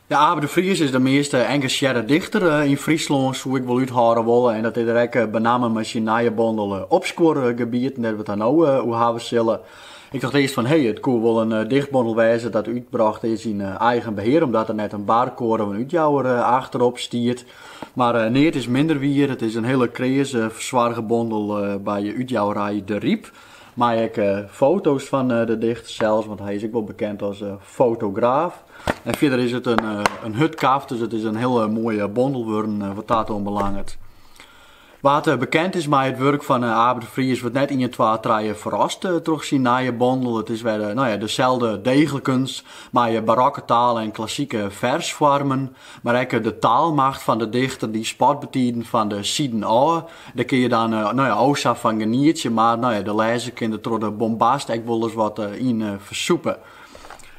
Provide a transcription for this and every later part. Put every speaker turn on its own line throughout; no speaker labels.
Ja, Abe de Vries is de meast eh, engasjearre dichter eh, yn Fryslân, soe ik wol úthâlde wolle. En dat is er ek eh, benammen mei syn nije bondel Opskuorgebieten, dêr't we it hjir no oer hawwe sille. Ik tocht earst fan, hey, it koe wol in dichtbondel wêze dat útbrocht is yn eigen behear, omdat der net in barkoade of in útjouwer achterop stiet. Mar neat is minder wier, it is in hiele kreas fersoarge bondel by útjouwerij DeRyp. Mei ek foto's fan de dichter sels, want hy is ek wol bekend as fotograaf. En fierder is it in hurdkaft, dus it is in hiele moaie bondel wurden wat dat oanbelanget. Wa't bekend is mei it wurk fan Abe de Vries wurdt net ien, twa, trije ferrast troch syn nije bondel. It is wer deselde deeglikens mei barokke taal en klassike fersfoarmen. Mar ek de taalmacht fan de dichter dy spat betiden fan de siden ôf. Dêr kinne je dan no ja o sa fan genietsje, mar no ja, de lêzer kin der troch de bombast ek wolris wat yn fersûpe.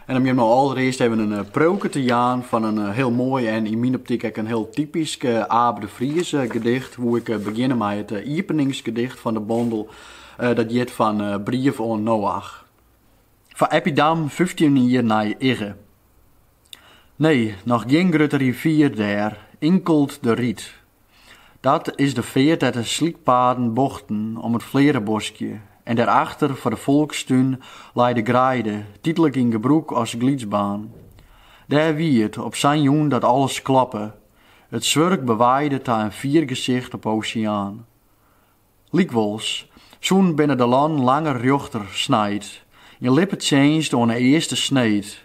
En om jimme allerearst even in preauke te jaan fan in hiel moai en yn myn optyk ek in hiel typysk Abe de Vries gedicht, woe ik begjinne mei it iepeningsgedicht fan de bondel, dat hjit fan Brief oan Noach. Foar Eppie Dam, fyftjin jier nei Igge. Nee, noch gjin grutte rivier dêr, inkeld de Ried. Dat is de feart dêr't de slykpaden bochten om it fleareboskje en dêrachter foar de folkstún lei de greide, tydlik yn gebrûk as glydsbaan. Dêr wie it op sa'n jûn dat alles klappe, it swurk bewaaide ta in fiergesicht op 'e oseaan. Lykwols, sûnt binne de lannen langer rjochter snijd, in lippetsjinst oan 'e earste sneed,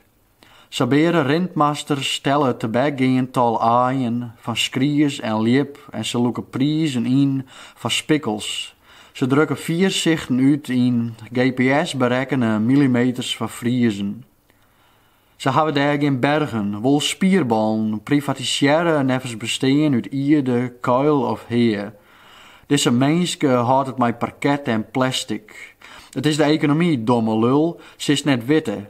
Sabeare rintmasters telle it tebekgeand tal aaien fan skries en ljip en se lûke prizen yn foar spikkels. Se drukke fiersichten út yn GPS-berekkene millimeters foar Friezen. Se hawwe dêr gjin bergen, wol spierballen, privatisearre neffens bestean út ierde, kuil of hea. Dizze minske hâldt it mei parket en plastic. It is de ekonomy, domme lul, silst net witte,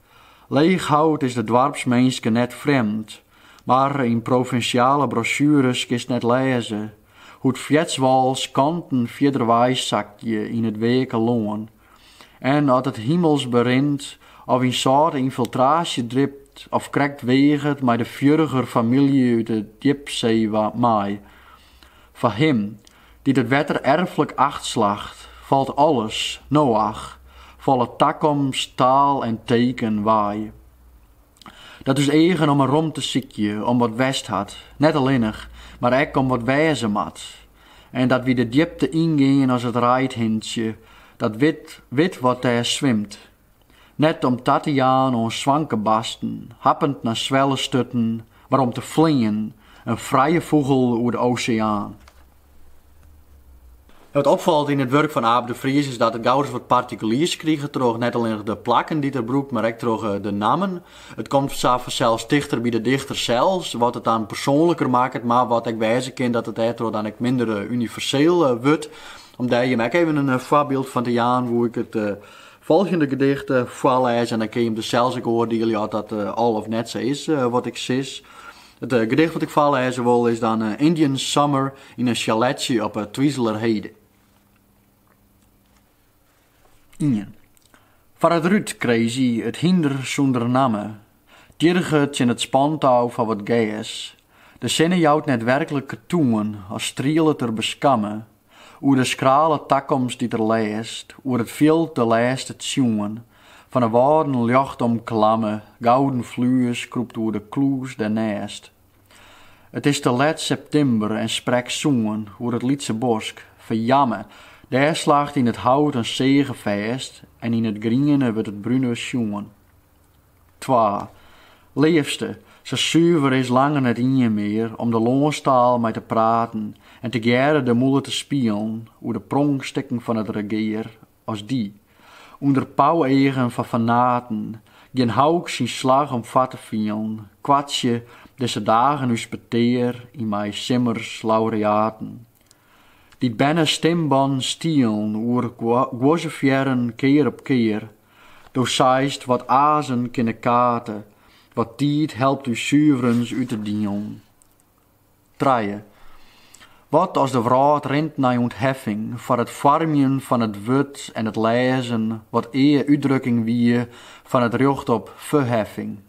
Leechhout is de doarpsminske net frjemd, mar yn provinsjale brosjures kinst net lêze hoe't feartswâlskanten fierder weisakje yn it weake lân en at it himels berint of yn sâlte ynfiltraasje dript of krekt weaget mei de fjurger famylje út 'e djipsee mei. Foar him Dy't it wetter erflik acht slacht, falt alles, Noach, folle takomst, taal en teken, wei. Dat ús eagen om 'e romte sykje, om wat west hat, net allinnich, mar ek om wat wêze moat, en dat wy de djipte yngean as it reidhintsje dat wit wat dêr swimt. Net om ta te jaan oan swanke basten, happend nei swellesturten, mar om te flean, in frije fûgel oer de oseaan. Wat opfalt yn it wurk fan Abe de Vries is dat it gauris wat partikuliers kriget troch net allinnich de plakken dy't er brûkt, mar ek troch de nammen. It komt sa fansels tichter by de dichter sels, wat it dan persoanliker makket, mar wat ek wêze kin dat it dêrtroch dan ek minder universeel wurdt. Om dêr jim ek even in foarbyld fan te jaan woe ik it Folgjende gedicht foarlêze en dan kinne jim dus sels ek oardielje oft dat al of net sa is wat ik sis. It gedicht wat ik foarlêze wol is dan Indian Summer yn in chaletsje op Twizelerheide. Ien. Foar it rút Crazy, it hynder sûnder namme, Tjirget tsjin it spantou foar wat gers. De sinne jout net werklik ketoen, as strielet er beskamme, oer de skrale takomst dy't er lêst, oer it fjild de lêste tsjoen, fan 'e wâlden ljocht omklamme, gouden flues krûpt oer de klûs dêrnêst. It is te let septimber en sprek soen, oer it lytse bosk, ferjamme, dêr slacht yn it hout in seage fêst en yn it griene wurdt it brune sjoen. Twa. Leafste, sa suver is langer net ien mear om de lânstaal mei te praten en tegearre de mûle te spielen oer de pronkstikken fan it regear as dy, ûnder pauweagen fan fanaten, gjin hauk syn slach om foar te fielen, koartsje, dizze dagen ús petear yn mei simmers laureaten. Dy't bernestimbannen stielen oer guozefierren kear op kear. Do seist, wat azen kin de kate, wat tiid helpt ús suverens út te dielen. Trije. Wat as de wrâld rint nei ûntheffing foar it foarmjen fan it wurd en it lêzen, wat ea útdrukking wie fan it rjocht op ferheffing.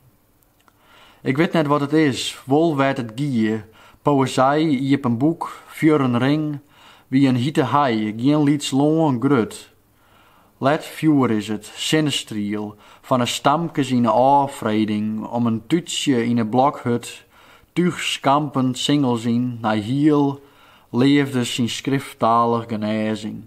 Ik wit net wat it is, wol wêr't it gie, poëzij, iepen boek, fjurren ring, wie in hite hei, gjin lyts lân, grut. Let fjoer is it, sinnestriel, fan 'e stamkes yn 'e ôffreding, om in tútsje yn 'e blokhut, túch skampend singels yn nei hiel, leafde syn skrifttalich genêzing.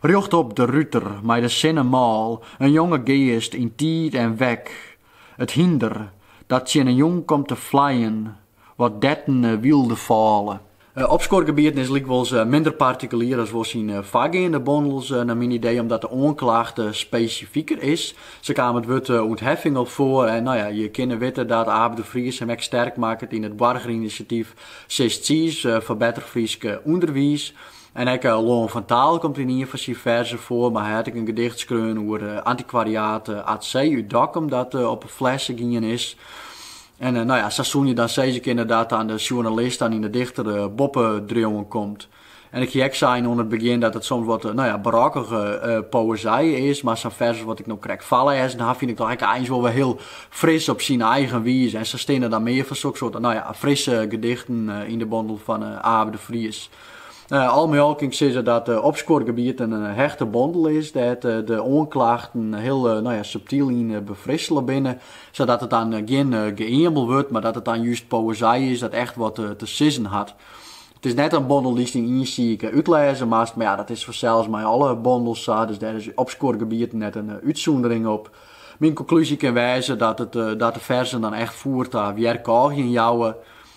Rjocht op de ruter mei de sinne mâl, in jonge geast yn tiid en wek, it hynder dat tsjin 'e jûn komt te flijen, wat dertene wylde fôle. Opskuorgebieten is lykwols minder partikulier as wol syn foargeande bondels, nei myn idee omdat de oanklacht spesifiker is. Sa kaam it wurd ûntheffing al foar en no ja, je kinne witte dat Abe de Vries him ek sterk makket yn it boargerinisiatyf Sis Tsiis foar better Frysk ûnderwiis. En ek Lân fan Taal komt yn ien fan syn ferzen foar, mar hy hat ek in gedicht skreaun oer antikwariaat Atsee út Dokkum dat op 'e flesse gien is. En no ja, sa soene je dan sizze kinne dat dan de sjoernalist dan yn de dichter boppe driuwen komt. En ik hie ek sein oan it begjin dat it soms wat no ja, barokkige poëzij is, mar sa'n fers as wat ik no krekt foarlêzen haw fyn ik dochs ek eins wol wer hiel fris op syn eigen wize. En sa steane dan mear fan sokssoarte no ja, frisse gedichten yn de bondel fan Abe de Vries. Al mei al kin ik sizze dat Opskuorgebieten in hechte bondel is dêr't de oanklachten hiel subtyl yn befrissele binne, sadat it dan gjin geëamel wurdt, mar dat it dan just poëzij is dat echt wat te sizzen hat. It is net in bondel dy'tst yn ien siik útlêze moatst, mar ja, dat is fansels mei alle bondels sa, dus dêr is Opskuorgebieten net in útsûndering op. Myn konklúzje kin wêze dat de ferzen dan echt foer ta wjerkôgjen jouwe,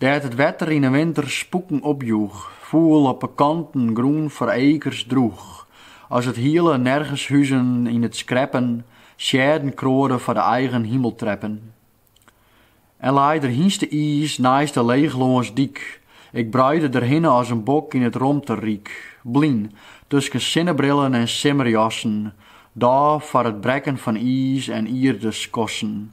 Dêr't it wetter yn 'e winter spûken opjoech, foel op 'e kanten grûn foar ekers droech, as it hiele Nergenshuzen yn it skreppen seadden kroade foar de eigen himeltreppen. En lei der hynste-iis neist de leechlânsdyk, ik bruide der hinne as in bok yn it romteryk, blyn tusken sinnebrillen en simmerjassen, dôf foar it brekken fan iis- en ierdeskossen,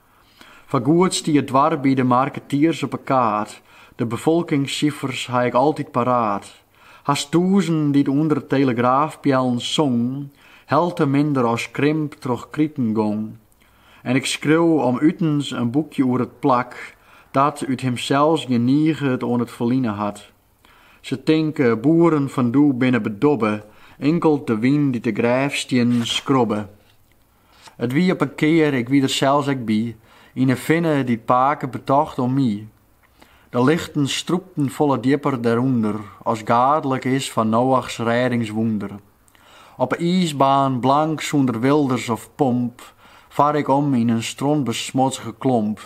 Foargoed stie it doarp by de marketiers op 'e kaart. De befolkingssifers ha ik altyd paraat. Hast tûzen dy't ûnder de telegraafpeallen songen, helte minder as krimp troch kriten gong. En ik skreau om utens in boekje oer it plak, dat út himsels gjin niget oan it ferline hat. Se tinke, boeren fan doe binne bedobbe, inkeld de wyn dy't de grêfstiennen skrobbe. It wie op in kear, ik wie der sels ek by, yn in finne dy't pake betocht oan my. De lichten strûpten folle djipper dêrûnder as gaadlik is fan Noachs rêdingswûnder. Op 'e iisbaan, blank sûnder wilders of pomp, far ik om yn in strontbesmodzge klomp.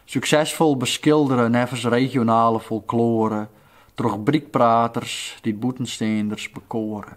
Suksesfol beskildere neffens regionale folkloare, troch brykpraters dy't bûtensteanders bekoare.